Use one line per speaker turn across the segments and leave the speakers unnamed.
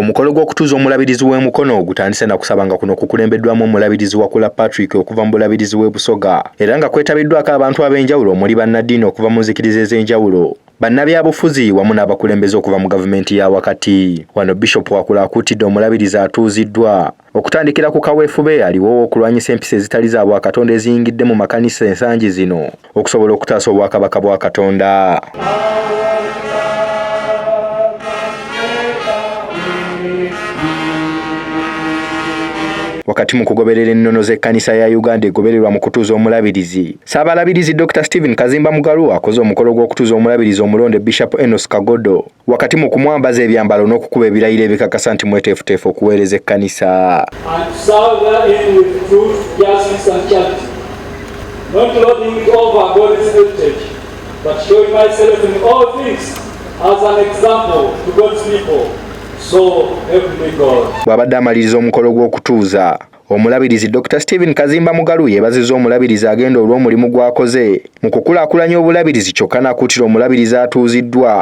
Omukolo gw'okutuuza omulabirizi w'e Mukono gutandise na kusabanga kuno kukulembeddwamu omulabirizi Wakula Patrick okuva mu bulabirizi w'e Busoga era nga kwetabiddwako abantu ab'enjawulo omuli bannaddiini okuva mu nzikiriza ez'enjawulo bannabyabufuzi wamu n'abakulembeze okuva mu gavumenti ya wakati wano bishop wakula akuutidde omulabirizi atuuziddwa Okutandikira ku kaweefube eyaliwo ow'okulwanyisa empisa ezitali za Bwakatonda eziyingidde mu makanisa ensangi zino okusobola okutaasa obwakabaka bwa Katonda. wakati mu kugoberera ennono z'ekkanisa ya Uganda egobererwa mu kutuuza omulabirizi. Ssaabalabirizi Dr. Stephen Kazimba Mugalu akoze omukolo gw'okutuuza omulabirizi omulonde Bishop Enos Kagodo. wakati mu kumwambaza ebyambalo n'okukuba ebirayiro ebikakasa nti mweteefuteefu okuweereza ekkanisa bw'abadde amaliriza omukolo gw'okutuuza Omulabirizi Dr. Stephen Kazimba Mugalu yeebazizza omulabirizi agenda olw'omulimu gw'akoze mu kukulaakulanya obulabirizi kyokka n'akuutira omulabirizi atuuziddwa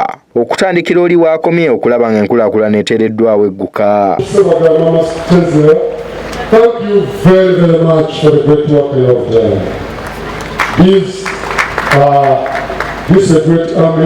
okutandikira oli w'akomye okulaba ng'enkulaakulana eteereddwawo egguka. This is
a great army.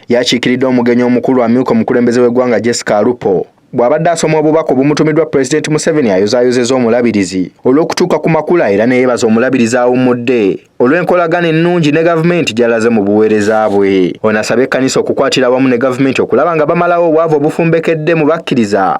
Yakiikiridde
omugenyi omukulu amyuka omukulembeze w'eggwanga Jessica Alupo bw'abadde asoma obubaka obumutumiddwa Pulezidenti Museveni ayozaayozeza omulabirizi olw'okutuuka ku makula era neyebaza omulabirizi awummudde olw'enkolagana ennungi ne gavumenti gy'alaze mu buweereza bwe. Ono asabye ekkanisa okukwatira awamu ne gavumenti okulaba nga bamalawo obwavu obufumbekedde mu bakkiriza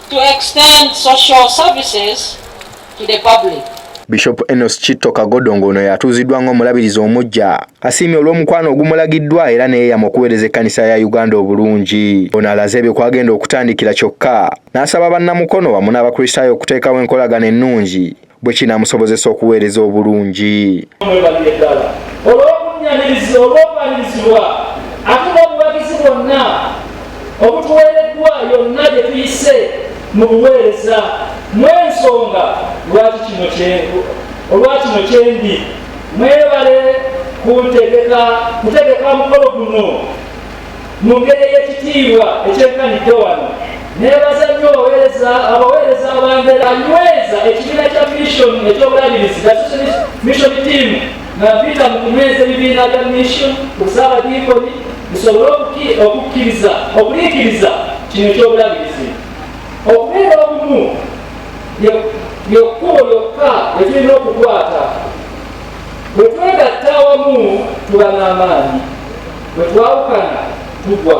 to extend social services to the public. Bishop
Enos Kitto Kagodo ng'ono yatuuziddwa ng'omulabirizi omuggya asiimye olw'omukwano ogumulagiddwa era neyeeyama okuweereza ekkanisa ya Uganda obulungi. Ono alaze ebyo kwagenda okutandikira kyokka n'asaba bannamukono wamu n'Abakristaayo okuteekawo enkolagana ennungi bwe kinaamusobozesa okuweereza obulungi. Olw'obunnyamirizi
olw'okuwanirizibwa ate n'obuwagizi bwonna obutuweereddwa yonna gye tuyise mu buweereza mw'ensonga lwaki kino kyenku olwa kino kyendi mwebale kuntegeka kutegeka mukolo guno mu ngeri ey'ekitiibwa ekyenkanidde wano nebaza nnyo abaweereza abambera anyweza ekibiina kya mission ekyobulabirizi mission team nga mpita mu kunyweza ebibiina bya mission ku saabadiikoni bisobole okukkiriza okuliikiriza kino ekyobulabirizi okubeera obumu lyekkubo lyokka etulina okukwata Bwe twegatta awamu tuba n'amaanyi, bwe twawukana tugwa.